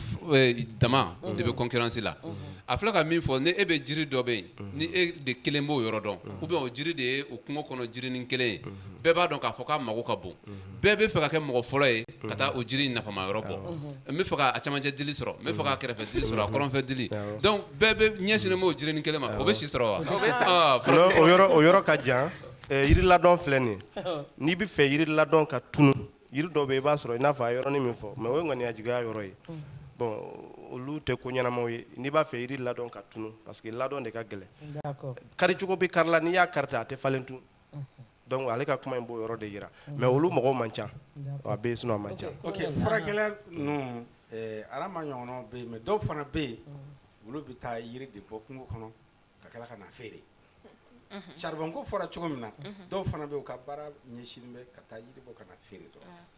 dama de bɛ concurrence la a fula ka min fɔ ni e bɛ jiri dɔ bɛ yen ni e de kelen b'o yɔrɔ dɔn ou bien o jiri de ye o kungo kɔnɔ jirinin kelen ye bɛɛ b'a dɔn k'a fɔ k'a mago ka bon bɛɛ bɛ fɛ ka kɛ mɔgɔ fɔlɔ ye ka taa o jiri nafama yɔrɔ bɔ n bɛ fɛ ka camancɛ dili sɔrɔ n bɛ fɛ ka kɛrɛfɛ dili sɔrɔ a kɔrɔnfɛ dili donc bɛɛ bɛ ɲɛsinnen b'o jirinin kelen ma o bɛ si sɔrɔ wa o yɔrɔ ka jan jiriladɔn filɛ nin ye n'i bɛ fɛ jiri ladɔn ka tunu jiri dɔ bɛ i b'a sɔrɔ i n'a fɔ a yɔrɔnin min fɔ mais o ye ŋaniya juguya yɔrɔ ye bon olu tɛ ko ɲɛnamaw ye n'i b'a fɛ jiri ladɔn ka tunu parce que ladɔn de ka gɛlɛn karicogo bɛ kari la n'i y'a kari tan a tɛ falen tun donc ale ka kuma in b'o yɔrɔ de jira mais olu mɔgɔw man ca a bɛ yen sinon a man ca furakɛla ninnu Adama ɲɔgɔnnaw bɛ yen mais dɔw fana bɛ yen olu bɛ taa yiri de bɔ kungo kɔnɔ ka tila ka na feere charbon ko fɔra cogo min na dɔw fana bɛ yen u ka baara ɲɛsinnen bɛ ka taa yiri bɔ ka na feere dɔrɔn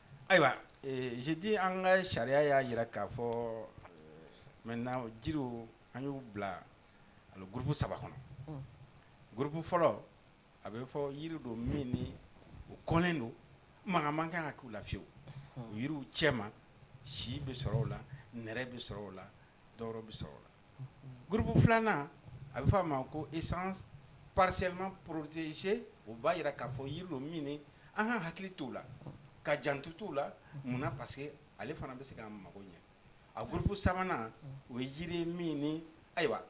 Ayiwa je dis an ka sariya y'a jira k'a fɔ maintenant jiriw an y'u bila ani groupe saba kɔnɔ groupe fɔlɔ a bɛ fɔ yiri don min ni o kɔnlen don maga man kan ka k'u la fiyewu o yiriw cɛma si bɛ sɔrɔ o la nɛrɛ bɛ sɔrɔ o la dɔwɛrɛ bɛ sɔrɔ o la groupe filanan a bɛ f'a ma ko essence partiellement protégée o b'a jira k'a fɔ yiri don min an ka hakili t'o la ka janto t'o la munna parce que ale fana bɛ se k'an mago ɲɛ a groupe sabanan o ye jiri min ni ayiwa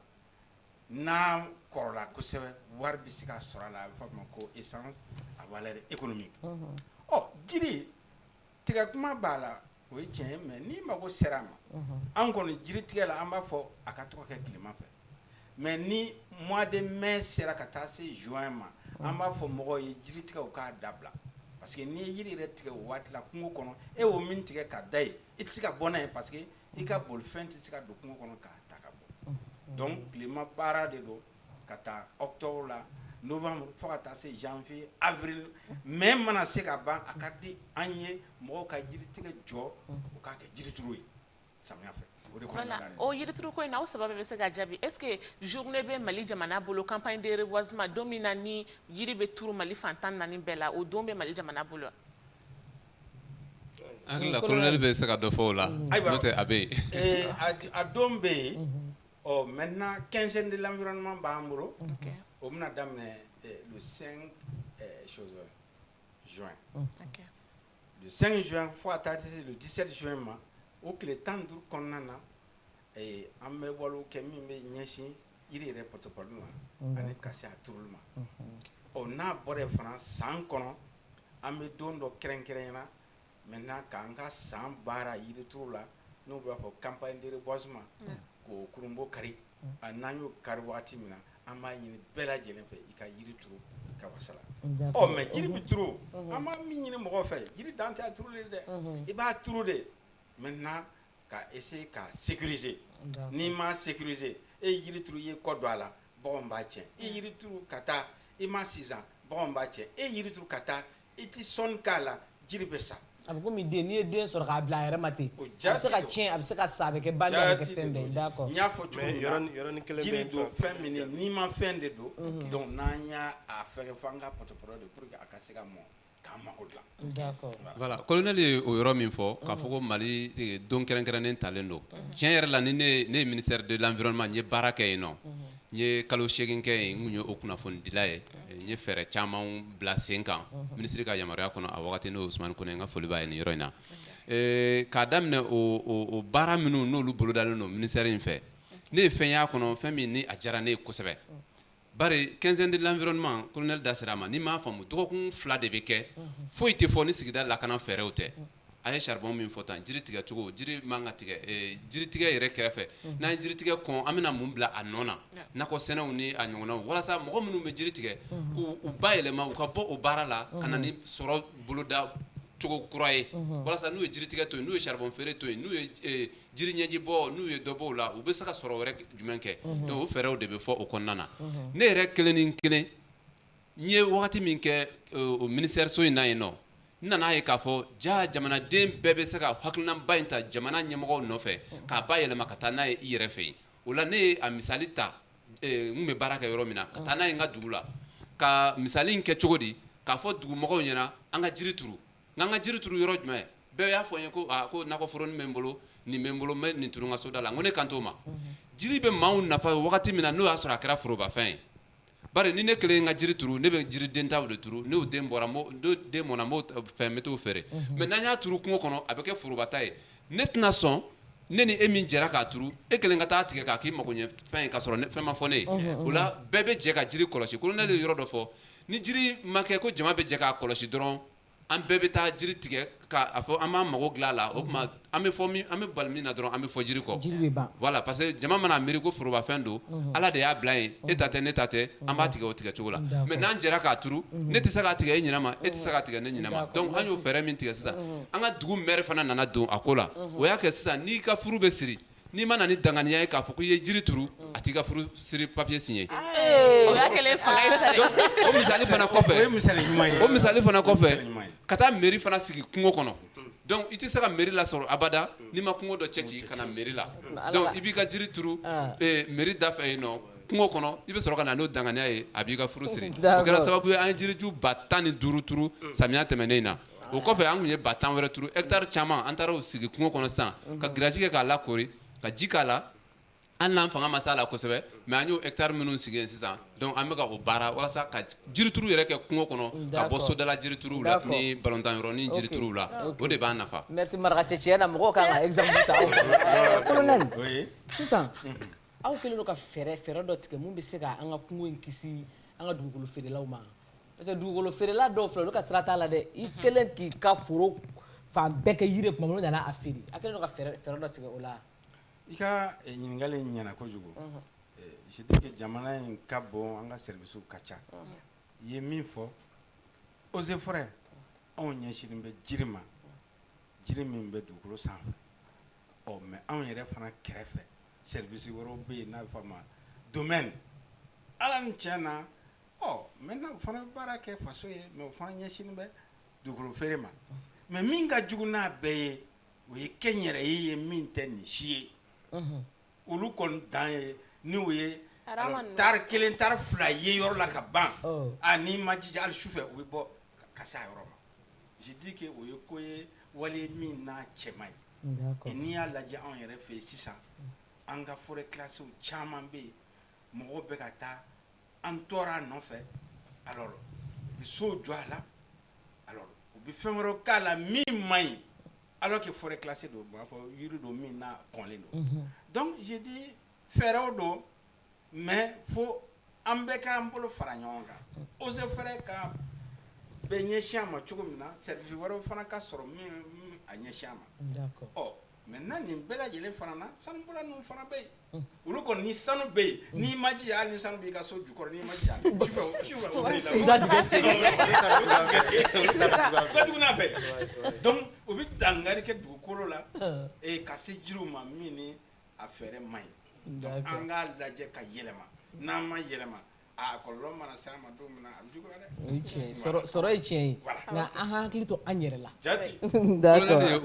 n'a kɔrɔla kosɛbɛ wari bɛ se ka sɔrɔ a la a bɛ f'a ma ko essence à valeur économique ɔ jiri tigɛ kuma b'a la o ye tiɲɛ ye mais n'i mago sera a ma, unhun, anw kɔni jiritigɛ la an b'a fɔ a ka to ka kɛ tilema fɛ mais ni mois de mai sera ka taa se juin ma an b'a fɔ mɔgɔw ye jiri tigɛ u k'a dabila parce que n'i ye jiri yɛrɛ tigɛ o waati la kungo kɔnɔ e y'o min tigɛ ka da yen i tɛ se ka bɔ n'a ye parce que i ka bolifɛn tɛ se ka don kungo kɔnɔ k'a ta ka bɔ donc tilema baara de don ka ta octobre la novembre fo ka taa se janvier avril mai mana se ka ban a ka di an ye mɔgɔw ka jiri tigɛ jɔ u k'a kɛ jirituru ye samiya fɛ voilà o jirituru ko in na aw saba bɛ se ka jaabi est-ce que journée bɛ mali jamana bolo campagne de reboisement don min na ni jiri bɛ turu mali fan tan ni naani bɛɛ la o don bɛ mali jamana bolo hakili la colonel bɛ se ka dɔ fɔ o la n'o tɛ a bɛ yen a don bɛ yen Ɔ mɛ na kɛsɛn de laɔrɔma b'an bolo o bɛna daminɛ sen sonsan sangin sonsan fo a taa tɛse don disɛ son in ma o tile tan duuru kɔnɔna na an bɛ wale kɛ min bɛ ɲɛsin jiri yɛrɛ ptop ma ani ka se a t ma ɔ n'a bɔra fana san kɔnɔ an bɛ don dɔ kɛrɛnkɛrɛn ɲɛna na maintenant k'an ka san baara yiri turu la n'o b'a fɔ campagne de reboisement k'o kurunbonkari n'an y'o kari waati min na an b'a ɲini bɛɛ lajɛlen fɛ i ka yiri turu i ka wasa la ɔ mais jiri bɛ turu an bɛ min ɲini mɔgɔw fɛ jiri dan tɛ a turuli dɛ i b'a turu de maintenant ka essayer k'a sécuriser n'i m'a sécuriser e yiri turu i ye kɔ don a la baganw b'a tiɲɛ e yiri turu ka taa i m'a sinsan baganw b'a tiɲɛ e yiri turu ka taa I tɛ sɔnni k'a la jiri bɛ sa, a bɛ komi den n'i ye den sɔrɔ k'a bila a yɛrɛ ma ten, o jaati don, a bɛ se ka tiɲɛ, a bɛ se ka sa, a bɛ kɛ bali ye, a bɛ kɛ fɛn bɛɛ ye, d'accord n y'a fɔ cogo min na, mais yɔrɔnin kelen bɛ yen, jiri don fɛn min don, nimafɛn de don, unhun, donc n'an y'a fɛngɛ fɔ an ka pɔtɔpɔtɔ de pour que a ka se ka mɔn k'an mako dilan, d'accord, voilà, colonel ye o yɔrɔ min fɔ, k'a fɔ ko Mali don kɛrɛnkɛrɛnnen talen don, tiɲɛ yɛrɛ la ni ne ye ministère de l'environnement n ye baara kɛ yen nɔ N ye kalo segin kɛ yen n ye o kunnafonidila ye n ye fɛɛrɛ caman bila sen kan minisiri ka yamaruya kɔnɔ a wagati n'o ye Usumani Kone n ka foli b'a ye nin yɔrɔ in na k'a daminɛ o baara minnu n'olu bolodalen don ministère in fɛ ne ye fɛn y'a kɔnɔ fɛn min ni a diyara ne ye kosɛbɛ bari quinzaine de l'environnement colonel da sera a ma n'i m'a faamu dɔgɔkun fila de bɛ kɛ foyi tɛ fɔ ni sigida lakana fɛɛrɛw tɛ A ye charbon min fɔ tan jiri tigɛ cogo jiri man ka tigɛ ɛɛ jiri tigɛ yɛrɛ kɛrɛfɛ n'an ye jiri tigɛ kɔn an bɛna mun bila a nɔ na nakɔ sɛnɛw ni a ɲɔgɔnnaw walasa mɔgɔ minnu bɛ jiri tigɛ k'u bayɛlɛma u ka bɔ o baara la ka na ni sɔrɔ boloda cogo kura ye walasa n'u ye jiri tigɛ to yen n'u ye charbon feere to yen n'u ye j ee jiri ɲɛji bɔ n'u ye dɔ bɔ o la u bɛ se ka sɔrɔ wɛrɛ k jumɛn kɛ donc o fɛɛrɛw de bɛ fɔ o kɔnɔna na ne yɛrɛ kelen nin kelen n ye wagati min kɛ ee o ministère so in na yennɔ N nana a ye k'a fɔ ja jamanaden bɛɛ bɛ se ka hakilinaba in ta jamana ɲɛmɔgɔw nɔfɛ k'a bayɛlɛma ka taa n'a ye i yɛrɛ fɛ yen o la ne ye a misali ta n bɛ baara kɛ yɔrɔ min na ka taa n'a ye n ka dugu la ka misali kɛ cogo di k'a fɔ dugumɔgɔw ɲɛna an ka jiri turu nka an ka jiri turu yɔrɔ jumɛn bɛɛ y'a fɔ n ye ko ko nakɔforonin bɛ n bolo nin bɛ n bolo n bɛ nin turu n ka soda la n ko ne kan t'o ma jiri bɛ maaw nafa wagati min na n'o y'a sɔrɔ a kɛra forobafɛn ye Bari ni ne kelen ka jiri turu ne bɛ jiri denta de turu n'o den bɔra den mɔna n b'o fɛn n bɛ t'o feere mais n'an y'a turu kungo kɔnɔ a bɛ kɛ forobata ye ne tɛna sɔn ne ni e min jɛra k'a turu e kelen ka taa tigɛ k'a k'i mago ɲɛ fɛn ye k'a sɔrɔ fɛn ma fɔ ne ye o la bɛɛ bɛ jɛ ka jiri kɔlɔsi colonel ye yɔrɔ dɔ fɔ ni jiri ma kɛ ko jama bɛ jɛ k'a kɔlɔsi dɔrɔn an bɛɛ bɛ taa jiri tigɛ k'a fɔ an b'an mago dilan a la o tuma an bɛ fɔ min an bɛ bali min na dɔrɔn an bɛ fɔ jiri kɔ jiri bɛ ban voilà parce que jama mana a miiri ko forobafɛn don Ala de y'a bila yen e ta tɛ ne ta tɛ an b'a tigɛ o tigɛ cogo la mais n'an jɛra k'a turu ne tɛ se k'a tigɛ e ɲinama e tɛ se k'a tigɛ ne ɲinama donc an y'o fɛɛrɛ min tigɛ sisan an ka dugu maire fana nana don a ko la o y'a kɛ sisan n'i ka furu bɛ siri N'i ma na ni danganiya ye k'a fɔ ko i ye jiri turu a t'i ka furu siri papier signé ee o y'a kɛlen ye fanga ye sa dɛ donc o misali fana kɔfɛ o ye misali ɲuman ye o misali fana kɔfɛ misali ɲuman ye ka taa mairie fana sigi kungo kɔnɔ unhun donc i tɛ se ka mairie lasɔrɔ abada n'i ma kungo dɔ cɛci ka na mairie la donc i b'i ka jiri turu ɔnn ee mairie da fɛ yen nɔ kungo kɔnɔ i bɛ sɔrɔ ka na n'o danganiya ye a b'i ka furu siri d'accord o kɛra sababu ye an ye jiriju 15000 turu unhun samiya tɛmɛnen in na o kɔfɛ an tun ye ba tan wɛrɛ turu hectare caman an taara o sigi kungo kɔnɔ sisan ka grillage kɛ k'a lakoori ka ji k'a la hali n'an fanga ma s'a la kosɛbɛ mais an y'o hectare minnu sigi yen sisan donc an bɛ ka o baara walasa ka jirituru yɛrɛ kɛ kungo kɔnɔ ka bɔ sodala jirituru la ni balontan yɔrɔ ni jirituruw la o de b'an nafa sisan aw kɛlen ka fɛɛrɛ fɛɛrɛ dɔ tigɛ min bɛ se k'an ka kungo in kisi an ka dugukolo feerelaw ma Parce que dugukolo feerela dɔw filɛ olu ka sira t'a la dɛ i kɛlen k'i ka foro fan bɛɛ kɛ yiri tuma nana a feere a kɛlen ka fɛɛrɛ dɔ tigɛ o la i ka eh, ɲininkali in ɲɛna kojugu mhm. eh, je dis que jamana in ka bon an ka services ka ca mhm. i ye min fɔ eaux et forêts anw ɲɛsinnen bɛ jiri ma jiri min bɛ dugukolo sanfɛ ɔ oh, mais anw yɛrɛ fana kɛrɛfɛ service wɛrɛw bɛ yen n'a bɛ fɔ a ma domaine ala ni tiɲɛ na ɔ maintenant o fana bɛ baara kɛ faso ye mais o fana ɲɛsinnen bɛ dugukolo feere ma mais min ka jugu n'a bɛɛ ye o ye kɛnyɛrɛye ye min tɛ nin si ye, unhun, olu kɔni dan ye ni o ye tari kelen tari fila ye yɔrɔ la ka ban, ɔ, a n'i ma jija hali sufɛ u bɛ bɔ ka se a yɔrɔ ma je dis que o ye ko ye wale ye min n'a cɛ man ɲi, d'accord, et n'i y'a lajɛ anw yɛrɛ fɛ yen sisan an ka forêts classées caman bɛ yen mɔgɔw bɛ ka taa an tɔɔrɔ a nɔfɛ alors u bɛ so jɔ a la alors u bɛ fɛn wɛrɛw k'a la min man ɲi alors que forêt classée don b'a fɔ yiri don min n'a kɔnlen don donc je dis fɛɛrɛw don mais fo an bɛɛ k'an bolo fara ɲɔgɔn kan eaux et forêts ka bɛ ɲɛsin a ma cogo min na service wɛrɛ fana ka sɔrɔ min bɛ a ɲɛsin a ma Maintenant nin bɛɛ lajɛlen fana na sanubɔla ninnu fana bɛ yen olu kɔni ni sanu bɛ yen n'i ma jija hali ni sanu b'i ka so jukɔrɔ n'i ma jija sufɛ u bɛ la duguna bɛɛ donc u bɛ dankari kɛ dugukolo la ee ka se jiri ma min n'a fɛɛrɛ man ɲi donc an k'a lajɛ ka yɛlɛma n'an ma yɛlɛma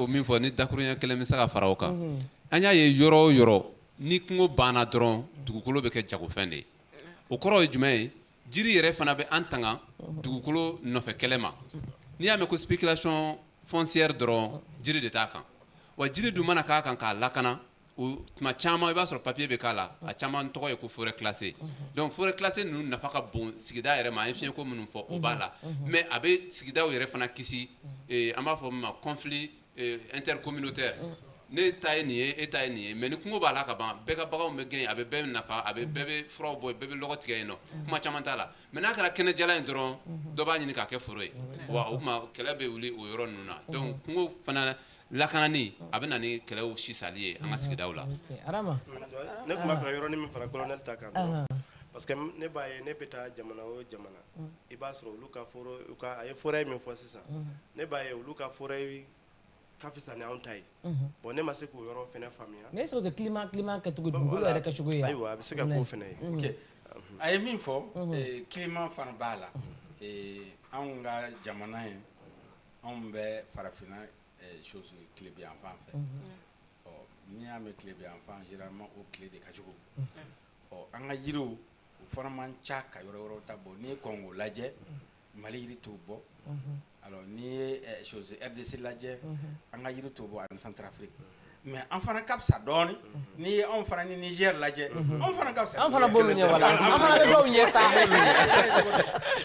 min fɔ ni dakuruɲɛ kelen bɛ se ka fara a kan an y'a ye yɔrɔ o yɔrɔ ni kungo banna dɔrɔn dugukolo bɛ kɛ jagofɛn de ye o kɔrɔ ye jumɛn ye jiri yɛrɛ fana bɛ an tanga dugukolo nɔfɛ kɛlɛ ma n'i y'a mɛn ko spéculation foncière dɔrɔn jiri de t'a kan wa jiri dun mana k'a kan k'a lakana tuma caman i b'a sɔrɔ papier bɛ k'a la a caman tɔgɔ ye ko forêt classée donc forêt classée ninnu nafa ka bon sigida yɛrɛ ma an ye fiɲɛko minnu fɔ o b'a la mais a bɛ sigidaw yɛrɛ fana kisi an b'a fɔ min ma conflits intercommunautaires ne ta ye nin ye e ta ye nin ye mais ni kungo b'a la ka ban bɛɛ ka baganw bɛ gɛn yen a bɛ bɛɛ nafa a bɛ bɛɛ bɛ furaw bɔ yen bɛɛ bɛ lɔgɔ tigɛ yen nɔ kuma caman t'a la mais n'a kɛra kɛnɛjalan ye dɔrɔn dɔ b'a ɲini k'a kɛ foro ye wa o tuma kɛlɛ bɛ wuli o yɔrɔ ninnu na donc kungo fana Lakanani a bɛ na ni kɛlɛw sisali ye an ka sigidaw la ne tun b'a fɛ ka yɔrɔnin min fara colonel ta kan parce que ne b'a ye ne bɛ taa jamana o jamana i b'a sɔrɔ olu ka a ye forêt min fɔ sisan ne b'a ye olu ka forêt ka fisa ni anw ta ye bon ne ma se k'o yɔrɔ fana faamuya mais est-ce que climat kɛcogo dugukolo yɛrɛ kɛcogo ye ayiwa a bɛ se ka k'o fana ye a ye min fɔ climat fana b'a la anw ka jamana ye Anw bɛ farafinna chose tilebin yanfan fɛ ɔ n'i y'a mɛn tilebin yanfan généralement o tile de ka jugu ɔ an ka yiriw u fana man ca ka yɔrɔ wɛrɛw ta bɔ n'i ye Congo lajɛ Mali yiri t'o bɔ alors n'i ye chose RDC lajɛ an ka yiri t'o bɔ ani Centrafrique mais an fana ka fisa dɔɔnin n'i ye anw fana ni Niger lajɛ anw fana ka fisa an fana b'olu ɲɛ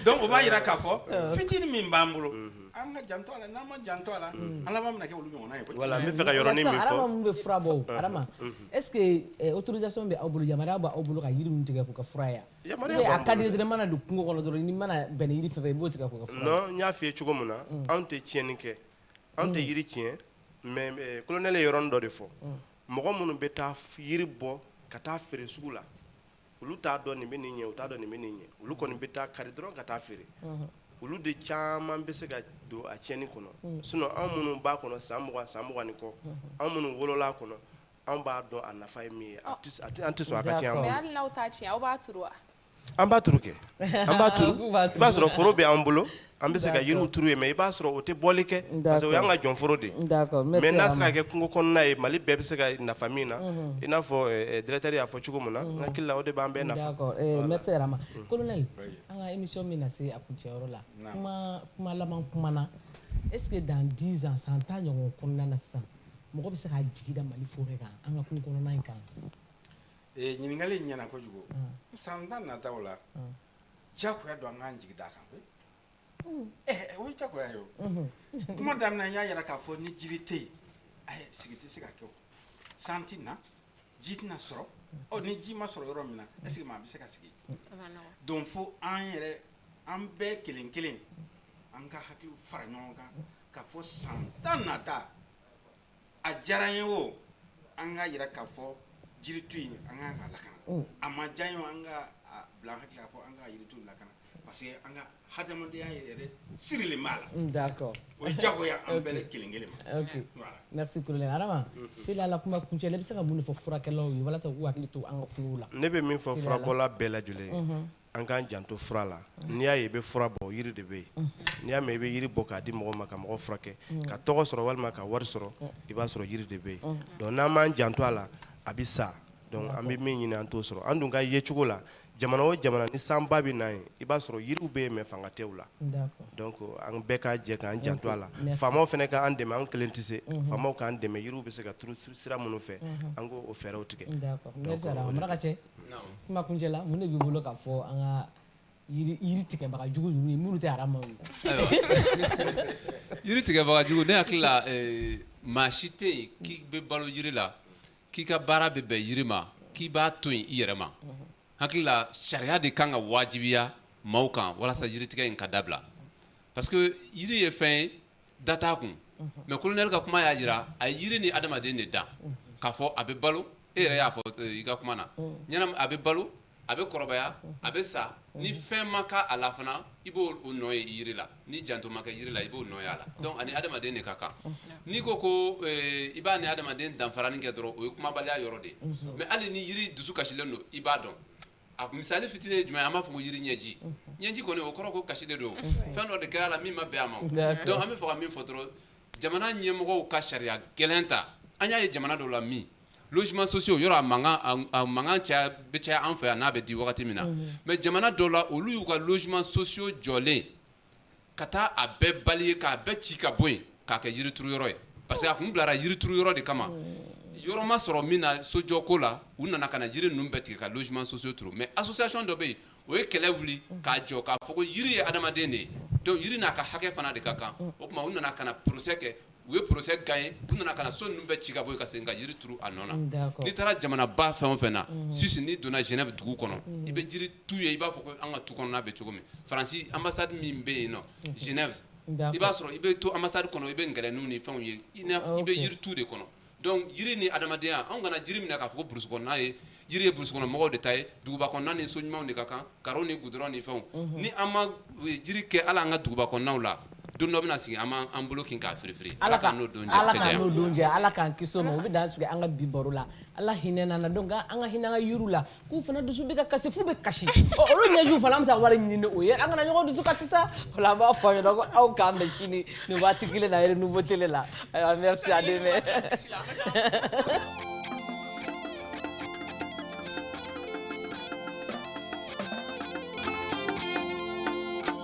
donc o b'a jira k'a fɔ fitinin min b'an bolo an ka janto a la n'an ma janto a la an laban bɛna kɛ olu ɲɔgɔn ye voilà n bɛ fɛ ka yɔrɔ min fɔ Arama min bɛ fura bɔ Arama est-ce que autorisation bɛ aw bolo yamaruya b'aw bolo ka yiri ninnu tigɛ k'u kɛ fura ye a ka di dɔrɔn mana don kungo kɔnɔ dɔrɔn mana bɛn yiri fɛn fɛn i b'o tigɛ n y'a fɔ i ye cogo min na anw tɛ tiɲɛni kɛ An tɛ yiri tiɲɛ mais colonel ye yɔrɔnin dɔ de fɔ, unhun, mɔgɔ minnu bɛ taa yiri bɔ ka taa feere sugu la olu t'a dɔn nin bɛ nin ɲɛ u t'a dɔn nin bɛ nin ɲɛ olu kɔni bɛ taa kari dɔrɔn ka taa feere, unhun, olu de caman bɛ se ka don a tiɲɛni kɔnɔ sinon anw minnu b'a kɔnɔ san mugan san mugan ni kɔ anw minnu wolola a kɔnɔ anw b'a dɔn a nafa ye min ye, an tɛ sɔn a ka tiɲɛ an bolo, mais hali n'aw t'a tiɲɛ aw b'a turu wa An b'a turu kɛ an b'a turu K'u b'a turu i b'a sɔrɔ foro bɛ an bolo an bɛ se ka yiriw turu yen mais i b'a sɔrɔ o tɛ bɔli kɛ d'accord parce que o y'an ka jɔnforo de ye d'accord n bɛ seg'a ma mais n'a sera ka kɛ kungo kɔnɔna ye Mali bɛɛ bɛ se ka e nafa min na unhun i n'a fɔ ɛɛ ɛɛ directeur y'a fɔ cogo min na unhun n hakili la o de b'an bɛɛ nafa d'accord ee merci Arama unhun colonel oui an ŋa émission bɛna se a kuncɛyɔrɔ la naam kumaa kuma laban kuma na est ce que dans 10 ans san 10 ɲɔgɔn kɔnɔna na sisan mɔgɔ bɛ se ka jigi da Mali forêt kan an ŋa kungo kɔnɔna in kan ɲininkali ɲɛna kojugu san tan nataw la jagoya don an k'an jigi da kan koyi o jagoya ye o kuma daminɛ n y'a yira k'a fɔ ni jiri tɛ yen a sigi tɛ se ka kɛ san tɛ na ji tɛna sɔrɔ ni ji ma sɔrɔ yɔrɔ min na est-ce que maa bɛ se ka sigi donc fo an yɛrɛ an bɛɛ kelen kelen an ka hakiliw fara ɲɔgɔn kan k'a fɔ san tan nata a diyara n ye o an ka jira ka fɔ jiri tu in an ka kan ka lakana a ma diya n ye o an ka bila an hakili la fɔ an ka yiritu lakana parce que an ka hadamadenya yɛrɛ sirilen b'a la d'accord o diyagoya an bɛɛ kelen kelen ma ok merci colonel adama se la kuma kuncɛ la i bɛ se ka mun de fɔ furakɛlaw ye walasa k'u hakili to an ka kungow la ne bɛ min fɔ furabɔla bɛɛ lajɛlen ye an k'an janto fura la n'i y'a ye i bɛ fura bɔ yiri de bɛ yen n'i y'a mɛn i bɛ yiri bɔ k'a di mɔgɔ ma ka mɔgɔ furakɛ ka tɔgɔ sɔrɔ walima ka wari sɔrɔ i b'a sɔrɔ yiri de bɛ yen donc n'an m'an janto a la a bɛ sa donc an bɛ min ɲini an t'o sɔrɔ an dun ka yecogo la jamana o jamana ni sanba bɛ na yen i b'a sɔrɔ yiriw bɛ yen mais fanga tɛ u la donc an bɛɛ ka jɛ k'an janto a la faamaw fana k'an dɛmɛ an kelen tɛ se faamaw k'an dɛmɛ yiriw bɛ se ka turu sira minnu fɛ an k'o fɛɛrɛw tigɛ Kuma kuncɛ la mun de b'i bolo k'a fɔ an ka yiri tigɛbaga jugu ninnu ye minnu tɛ adama ye yiri tigɛbaga jugu ne hakili la maa si tɛ yen k'i bɛ balo yiri la k'i ka baara bɛ bɛn yiri ma k'i b'a to yen i yɛrɛ ma hakili la sariya de kan ka wajibiya maaw kan walasa yiritigɛ in ka dabila parce que yiri ye fɛn ye da t'a kun mais colonel ka kuma y'a jira a ye yiri ni adamaden de dan k'a fɔ a bɛ balo e yɛrɛ y'a fɔ i ka kuma na ɲɛnama a bɛ balo a bɛ kɔrɔbaya a bɛ sa ni fɛn maga a la fana i b'o nɔ ye yiri la ni janto ma kɛ yiri la i b'o nɔ ye a la donc a ni adamaden de ka kan n'i ko ko ee i b'a ni adamaden danfarani kɛ dɔrɔn o ye kumabaliya yɔrɔ de ye mais hali ni yiri dusu kasilen don i b'a dɔn A misali fitinin ye jumɛn an b'a fɔ ko yiri ɲɛji ɲɛji kɔni o kɔrɔ ko kasi de don fɛn dɔ de kɛra a la min ma bɛn a ma donc an bɛ fɛ ka min fɔ dɔrɔn jamana ɲɛmɔgɔw ka sariya gɛlɛn ta an y'a ye jamana dɔw la min logements sociaux yɔrɔ a mankan caya bɛ caya an fɛ yan n'a bɛ di wagati min na mais jamana dɔw la olu y'u ka logements sociaux jɔlen ka taa a bɛɛ bali ye k'a bɛɛ ci ka bɔ yen k'a kɛ yirituru yɔrɔ ye parce que a tun bilara yirituru yɔrɔ de kama yɔrɔ ma sɔrɔ min na sojɔ ko la u nana ka na yiri ninnu bɛɛ tigɛ ka logements sociaux turu mais association dɔ bɛ yen o ye kɛlɛ wuli k'a jɔ k'a fɔ ko yiri ye adamaden de ye donc yiri n'a ka hakɛ fana de ka kan o tuma u nana ka na procès kɛ u ye procès gagner u nana ka na so ninnu bɛɛ ci ka bɔ yen ka segin ka yiri turu a nɔ na n'i taara jamanaba fɛn o fɛn na Suisse n'i donna Genève dugu kɔnɔ i bɛ jiri tu ye i b'a fɔ ko an ka tu kɔnɔna bɛ cogo min faransi ambassade min bɛ yen nɔ Genève i b'a sɔrɔ i bɛ to ambassade kɔnɔ i bɛ ngɛlɛninw ni fɛnw ye i bɛ yiri tu de kɔnɔ Donc jiri ni adamadenya anw kana jiri minɛ k'a fɔ ko burusi kɔnɔna ye jiri ye burusi kɔnɔmɔgɔw de ta ye duguba kɔnɔna ni so ɲumanw de ka kan karo ni gudɔrɔn ni fɛnw ni an ma jiri kɛ a la an ka duguba kɔnɔnaw la don dɔ bɛna sigi an b'an bolo kin k'a firifiri ala kana o don jɛ ala k'an kisi o ma an bɛ dan sigi an ka bi baro la ala hinɛ na donc an ka hinɛka la K'u fana dusu bɛ ka kasi f'u bɛ kasi ɔ olu ɲɛjiw fana an bɛ taa wari ɲini ni o ye an kana ɲɔgɔn dusu kasi sa o la an b'a fɔ aw ɲɛna ko aw k'an bɛn sini nin waati kelen na Renouveau Télé la ayiwa merci à demain